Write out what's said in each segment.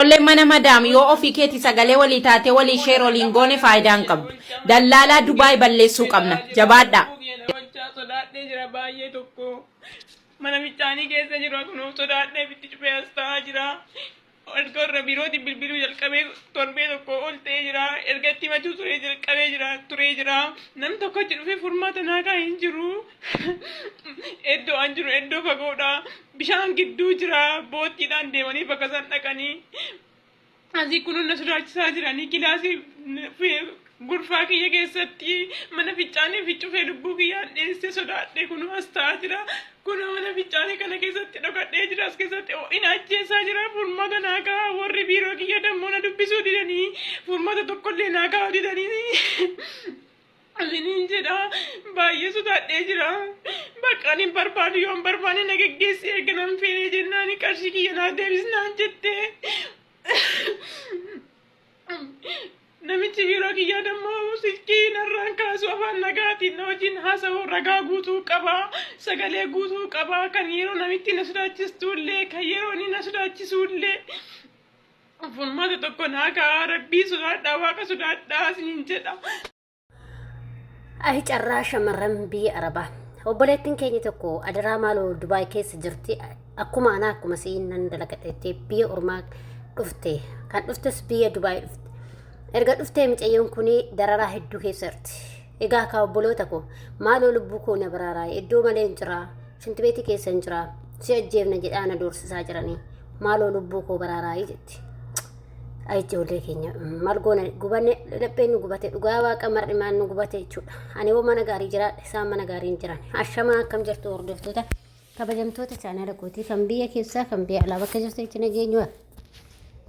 Ijoolleen mana madaam yoo ofii keeti sagalee walii taatee walii share oli hin goone faayidaa hin qabdu. Dallaalaa Dubai balleessuu qabna. Jabaadhaa. Hojjaa sodaadhee jira baay'ee tokko mana michaanii keessa jira kunoo sodaadhee bitti cufee as ta'aa jira erga irra biirootiin bilbiluu jalqabee torbee tokko ol ta'ee jira erga itti himachuu turee jalqabee jira turee jira nam tokko achi dhufee furmaata naakaa hin jiru. Iddoo an jiru iddoo fagoodha. Bishaan gidduu jira. Boottiidhaan deemanii bakka isaan dhaqanii. Asii kunuun na sodaachisaa jiranii kilaasii gurfaa kiyya keessatti mana fincaanii fi cufee lubbuu kiyyaan dheessee sodaadhee kunuu as ta'aa jira. Kunoo mana fincaanii kana keessatti dhokadhee jira as keessatti ho'ina ajjeesaa jira furmaata naa ka'a warri biiroo kiyya dammoo na dubbisuu didanii furmaata tokkollee naa ka'a didanii. Alliniin jedha baay'ee sodaadhee jira. Bakka ani hin barbaadu yoo hin barbaanne na geggeessi erga nan feene jennaan qarshii kiyya naa deebisnaan jette. Namichi biiroo kiyyaa dammoo silkii narraan kaasu afaan nagaatiin na wajjin haasa'u ragaa guutuu qaba. Sagalee guutuu qaba kan yeroo namitti na sodaachistu illee kan yeroo inni na sodaachisu illee. Furmaata tokko naa kaa'aa rabbii sodaadhaa waaqa sodaadhaa isiniin jedha. Ayi carraa shamarran biyya Arabaa. Obboleettiin keenya tokko adaraa maaloo Dubaay keessa jirti akkuma anaa akkuma si'iin nan dalagateetti biyya ormaa dhufte kan dhuftes biyya Dubaay dhufte. Erga dhuftee micayyoon kun dararaa hedduu keessa jirti. Egaa kaa obboloota koo maaloo lubbuu koo na baraaraa iddoo malee hin jiraa Shinti beetii keessa hin jiraa. Si ajjeefna jedhaa na doorsisaa jiranii. Maaloo lubbuu koo baraaraayii jetti. Ayi ijoollee keenya maal goona gubanne lapheen nu gubate dhugaa waaqa mar'i maal nu gubate jechuudha. Ani hoo mana gaarii jiraadha isaan mana gaarii hin jiran. Ashamaa akkam jirtu hordoftoota kabajamtoota chaanala kootii kan biyya keessaa kan biyya alaa bakka jirtu itti nageenyu.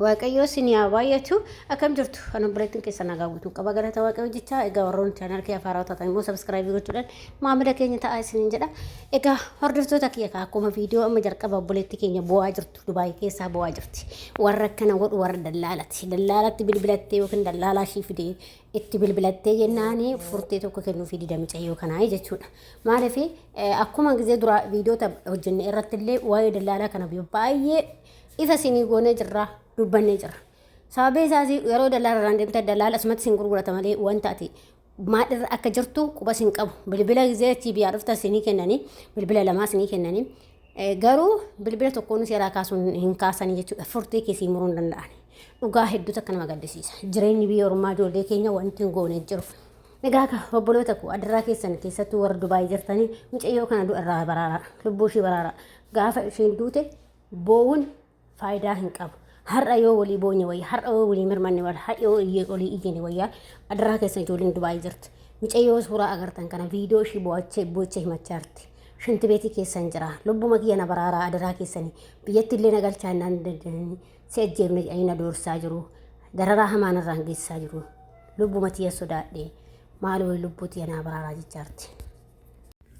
Waaqayyoo sin yaa baay'atu akkam jirtu kan obboleettiin keessa nagaa guutuu qaba galata waaqayyoo jecha egaa warroon chaanal kee afaaraa taatan immoo sabiskiraayibii gochuudhaan maamila keenya ta'aa isiniin jedha egaa hordoftoota kiyya kaa akkuma viidiyoo amma jalqaba obboleettii keenya bu'aa jirtu dubaayii keessaa bu'aa jirti warra akkana godhu warra dallaalati dallaalatti bilbilattee yookiin dallaalaa ishii fidee itti bilbilattee jennaan furtee tokko kennuufi dida micayyoo kanaa jechuudha. Maaliif akkuma gisee duraa viidiyoota hojjenne irratti illee waa'ee dallaalaa kana baay'ee Ifa isinii goonee jirra, dubbannee jirra. Sababni isaas yeroo dallaalarraan deemte dallaala asumatti isin gurgurata malee wanta ati maadhirra akka jirtu quba isin qabu. Bilbila gizee achii biyyaa dhufta isinii kennanii bilbila lamaa isinii kennanii garuu bilbila tokkoon seeraa kaasuun hin kaasanii jechuudha. Furtii keessii muruu hin danda'an. Dhugaa hedduu takka nama gaddisiisa. Jireenyi biyya ormaa ijoollee keenya wanti hin goone jiru. Egaa ka obboloota koo adarraa keessan keessattuu warra Dubaay jirtanii mucayyoo kana du'arraa baraaraa lubbuu ishii baraaraa gaafa isheen duute Boo'uun faayidaa hin qabu. Har'a yoo walii boonye wayya, har'a yoo walii mirmanne wayya, har'a yoo iyyee olii iyyine wayya, adaraa keessan ijoolleen Dubaayii jirti. Micayyoo suuraa agartan kana viidiyoo ishii boo'achee boo'achee himachaa jirti. Shanti beetii keessan jira. Lubbuma kiyya na baraaraa adaraa keessanii. Biyyatti illee na galchaa hin dandeenye. Si ajjeefne jedhanii na doorsaa jiru. Dararaa hamaan irraan geessisaa jiru. Lubbuma tiyya sodaadhe. Maaloo lubbuu tiyya naa baraaraa jechaa jirti.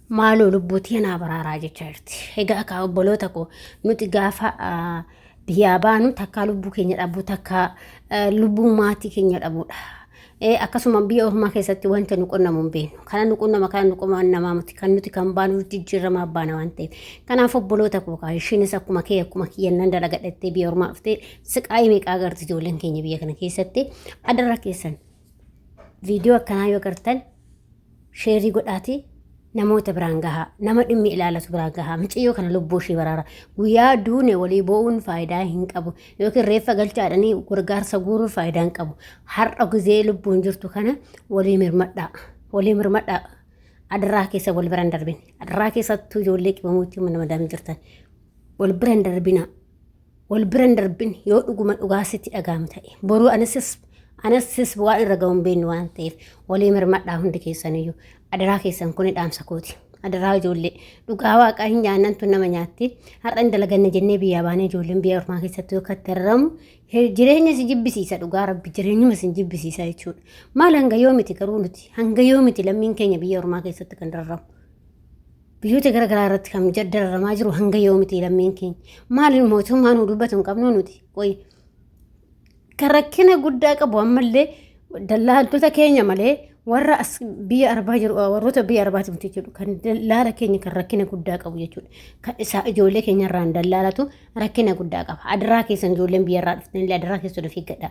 maaloo lubbuu tiyya naa baraaraa jechaa jirti. Egaa akka obboloota koo nuti gaafa ah, biyyaa baanu takkaa lubbuu keenya dhabuu takkaa eh, lubbuu maatii keenya dhabuudha. Eh, Akkasuma biyya ormaa keessatti wanta nu qunnamu hin beeknu. Kana nu qunnama kana nu qunnamaa miti. Kan nuti kan baanu nuti jijjiiramaa baana waan ta'eef. Kanaaf obboloota koo kaa ishiinis akkuma kee akkuma kiyya nan dalagadhattee biyya ormaa dhuftee siqaayii meeqaa agarti ijoolleen keenya biyya kana keessatti adara keessan Viidiyoo akkanaa yoo gartan sheerii godhaati namoota biraan gahaa nama dhimmi ilaalatu biraan gahaa miciyyoo kana lubbuu ishii baraara guyyaa duune walii bo'uun faayidaa hin qabu yookiin reeffa galchaadhanii gargaarsa guuruu faayidaa hin qabu har'a gizee lubbuun jirtu kana walii mirmadhaa walii mirmadhaa adaraa keessa wal biraan darbin adaraa keessattuu ijoollee qibamuutti nama daamii jirtan wal biraan darbinaa wal bira hin darbin yoo dhuguma dhugaa sitti dhaga'amu ta'e boruu anasis anasis waan irra ga'uun beeknu waan ta'eef walii mirmadhaa hundi keessaniyyuu adaraa keessan kuni dhaamsa kooti adaraa ijoollee dhugaa waaqaa hin nyaannan tun nama nyaatti har'a hin dalaganne jennee biyyaa baanee ijoolleen biyya ormaa keessatti yookaan itti arramu jireenya si jibbisiisa dhugaa rabbi jireenyuma si jibbisiisa jechuudha maal hanga yoomiti garuu nuti hanga yoomiti lammiin keenya biyya ormaa keessatti kan darramu Biyyoota gara garaa irratti kan dararamaa jiru hanga yoomiti lammiin keenya. Maaliin mootummaa nu dubbatu hin qabnu nuti. Qoyi. Kan rakkina guddaa qabu ammallee dallaaltota keenya malee warra as biyya arbaa jiru warroota biyya arbaati miti jechuudha. Kan dallaala keenya kan rakkina guddaa qabu jechuudha. Kan isaa ijoollee keenya irraan dallaalatu rakkina guddaa qaba. Adaraa keessan ijoolleen biyya irraa dhuftan illee adaraa keessan of eeggadha.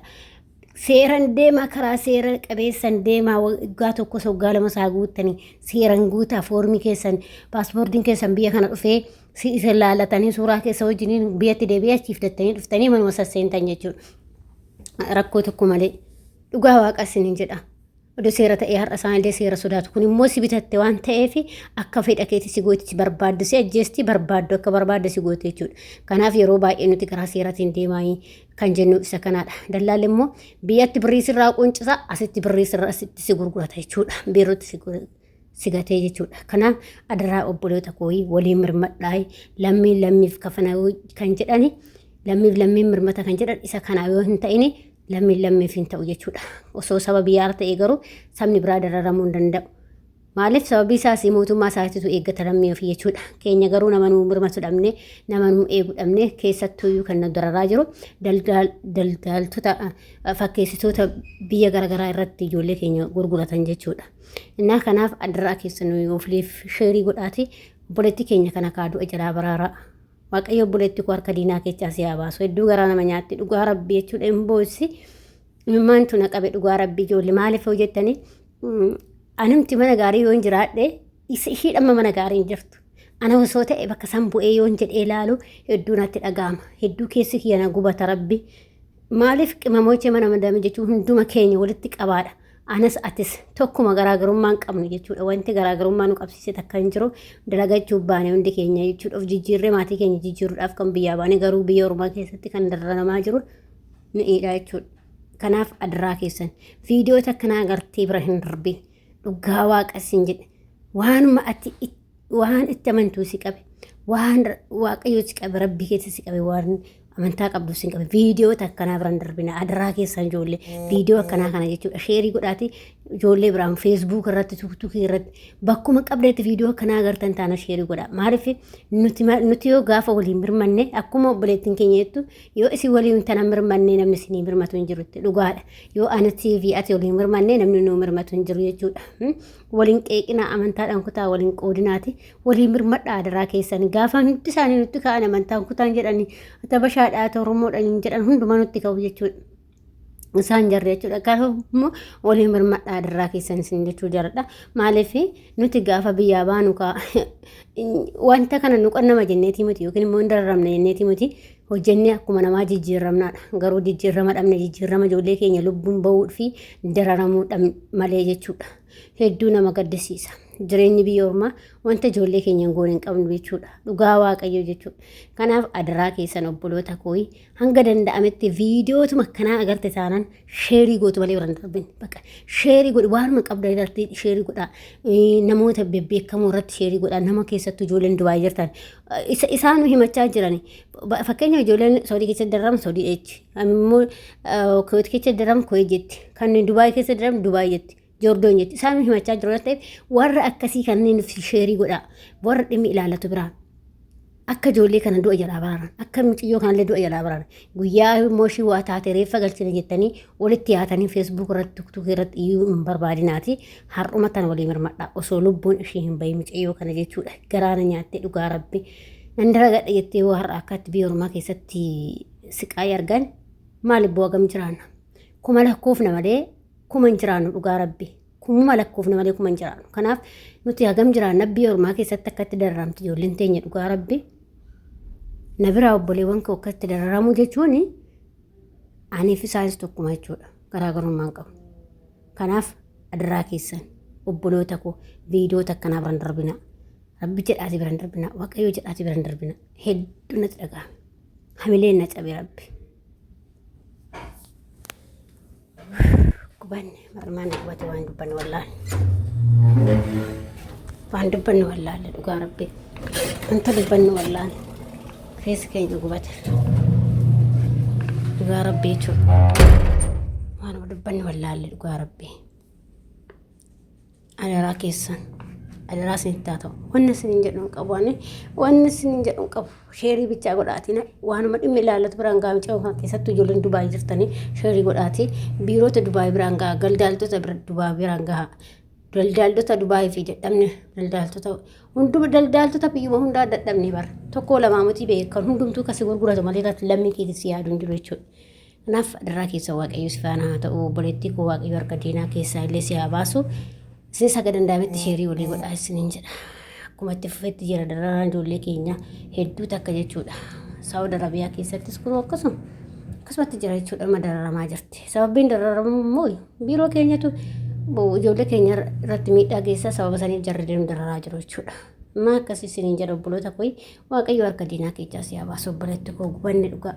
Seeran deemaa karaa seera qabeessan deemaa waggaa tokkos waggaa lama isaa guuttanii seeran guutaa foormii keessan paaspoortiin keessan biyya kana dhufee si isa laalatanii suuraa keessa wajjiniin biyyatti deebi'ee achiif dattanii dhuftanii manuma sasseentan jechuudha. Rakkoo tokko malee dhugaa waaqa isiniin jedha. Odoo seera ta'ee har'a isaanillee seera sodaatu. Kun immoo si bitatte waan ta'eef akka fedha keetii si gooti si barbaaddu si ajjeesti barbaaddu akka barbaadde si goote jechuudha. Kanaaf yeroo baay'ee nuti karaa seeratiin deemaa kan jennu isa kanaadha. Dallaalli immoo biyyatti birrii sirraa quncisa asitti birrii sirraa asitti si gurgurata jechuudha. Biirootti si gurgurata. sigatee jechuudha. Kanaaf adaraa obboloota kooyii waliin mirmadhaa lammiin lammiif kafanaa kan jedhani lammiif lammiin mirmata kan jedhan isa kanaa yoo hin ta'ini Lammiin lammiif hin ta'u jechuudha. Osoo saba biyyaar ta'ee garuu sabni biraa dararamuu hin danda'u. Maaliif sababii isaas mootummaa isaatitu eeggata lammii ofii jechuudha. Keenya garuu nama nuu mirmatu dhabne, nama nuu eegu dhabne keessattuuyyuu kan nu dararaa jiru daldaaltota fakkeessitoota biyya garaagaraa irratti ijoollee keenya gurguratan jechuudha. Innaa kanaaf addaraa keessan nuyi ofliif sheerii godhaati obboleettii keenya kana kaaduu ajalaa baraaraa. Waaqayyo obboleetti koo harka diinaa keechaa si haa baasu. Hedduu garaa nama nyaatti dhugaa rabbi jechuudha hin boo'issi. Mimmaantu na qabe dhugaa rabbi ijoollee maaliif hojjettanii anumti mana gaarii yoo hin jiraadhe isa ishii dhamma mana gaarii hin jirtu. Ana osoo ta'e bakka san bu'ee yoo hin jedhee ilaalu hedduu natti dhaga'ama. Hedduu keessi kiyya na gubata rabbi. Maaliif qimamochee mana madame jechuun hunduma keenya walitti qabaadha. anas atis tokkuma garaagarummaa hin qabnu jechuudha. Wanti garaagarummaa nu qabsiise takka hin jiru dalagachuuf baane hundi keenya jechuudha. Of jijjiirree maatii keenya jijjiiruudhaaf kan biyyaa baane garuu biyya ormaa keessatti kan dararamaa jiru mi'eedha jechuudha. Kanaaf adaraa keessan viidiyoo takka naa gartee bira hin darbin dhugaa waaqa siin jedhe waanuma ati itti waan itti amantuu si qabe waan waaqayyoo si qabe rabbii keessa si qabe waan amantaa qabdu si qabe viidiyoo akkanaa biraan darbina adaraa keessaan ijoollee viidiyoo akkanaa kana jechuudha sheerii godhaati ijoollee biraan feesbuuk irratti tuuktuukii irratti bakkuma qabdeetti viidiyoo akkanaa agartan taana sheerii godha maaliif nuti yoo gaafa waliin mirmanne akkuma obboleettiin keenya jettu yoo isin waliin tana mirmanne namni isinii mirmatu hin jirutti dhugaadha yoo anati fi ati waliin mirmanne namni nuu mirmatu hin jiru jechuudha waliin qeeqinaa amantaadhaan kutaa waliin qoodinaati waliin mirmadhaa adaraa keessan gaafaan hundi isaanii nutti ka'an amantaan kutaan jedhanii atabashaadhaa toromoodhaan jedhan hundumaa nutti ka'u jechuudha. Isaan jarri jechuudha. Kanaaf immoo waliin mirmadhaa adaraa keessan isin jechuu jaradha. Maaliif nuti gaafa biyyaa baanu wanta kana nu qannama jenneetii miti yookiin immoo hin dararamne jenneetii miti Hojjennee akkuma namaa jijjiirramnaadha. Garuu jijjiirrama dhabne jijjiirrama ijoollee keenya lubbuun ba'uu fi dararamuu dhabne malee jechuudha. Hedduu nama gaddisiisa. Jireenyi biyya ormaa wanta ijoollee keenya hin goone hin qabnu jechuudha. Dhugaa waaqayyoo jechuudha. Kanaaf adaraa keessan obboloota kooyi hanga danda'ametti viidiyootuma akkanaa agarte taanan sheerii gootu malee warra darbin bakka sheerii godhi waanuma qabda irratti sheerii godha namoota bebbeekamoo irratti sheerii godha nama keessattuu ijoolleen dubaayii jirtan isa isaanu himachaa jiran fakkeenya ijoolleen soodii keessa darram soodii eechi ammoo kuweet keessa darram kuwee jetti kan dubaayii keessa darram dubaayii jetti Joordoon jetti. Isaan nu himachaa jiru waan ta'eef warra akkasii kanneen nuuf sheerii godhaa. Warra dhimmi ilaallatu biraan. Akka ijoollee kana du'a jalaa baraaran. Akka mucayyoo kanallee du'a jalaa baraaran. Guyyaa immoo ishii waa taate reeffa galchina jettanii walitti yaatanii feesbuuk irratti tuktukii irratti iyyuu hin barbaadinaati. Har'uma tan walii mirmadha. Osoo lubbuun ishii hin bahin mucayyoo kana jechuudha. Garaana nyaattee dhugaa rabbi. Nan dalagadha jettee yoo har'a akkaatti biyya ormaa keessatti siqaayii argan maal ibboo hagam jiraanna. Kuma lakkoofna malee kuma hin jiraannu dhugaa rabbi kumuma lakkoofne malee kuma hin jiraannu kanaaf nuti hagam jiraanna biyya ormaa keessatti akkatti dararamti ijoolleen teenya dhugaa rabbi na biraa obboleewwan koo akkatti dararamuu jechuun aniif isaanis tokkuma jechuudha garaagarummaan qabu kanaaf adaraa keessan obboloota koo viidiyoota akkanaa biran darbina rabbi jedhaati biran darbina waaqayyo jedhaati biran darbina hedduu natti dhaga'ame hamileen na cabe rabbi. gubanne marmaan gubate waan dubbanne wallaahi waan dubbanne wallaahi dhugaa rabbii wanta dubbanne wallaahi keessa keenya gubate dhugaa rabbii jechuudha waan dubbanne wallaahi dhugaa rabbii. Adaraa keessan. Adaraa isinitti haa ta'u. Wanni isinin jedhu hin qabu. Ani wanni isinin jedhu hin qabu. Sheerii bichaa godhaatiin waanuma dhimmi ilaallatu biraan gahaa micaa kan keessattuu ijoolleen Dubaay jirtanii sheerii godhaatii biirota Dubaay biraan gahaa galdaaltota Dubaay biraan gahaa. Daldaaltota Dubaay fi jedhamne daldaaltota hunduma daldaaltota biyyuma hundaa dadhabne bara tokko lamaa miti beekan hundumtuu kasi gurguratu malee lammii keetis yaadu hin jiru jechuudha. Naaf adarraa keessa waaqayyo si faana haa ta'u obboleettii koo waaqayyo harka diinaa keessaa illee si haa baasu. Isin saga danda'ametti sheerii walii godhaa isiniin jedha. Akkuma itti fufetti jira dararaan ijoollee keenya hedduu takka jechuudha. Saawud Arabiyaa keessattis kunoo akkasuma akkasumatti jira jechuudha amma dararamaa jirti. Sababiin dararamu immoo biiroo keenyatu ijoollee keenya irratti miidhaa geessaa sababa saniif jarri deemu dararaa jiru jechuudha. Maa akkas isiniin jedha obboloota koo waaqayyo harka diinaa keessaa si haa baasu obboleetti koo gubanne dhugaa.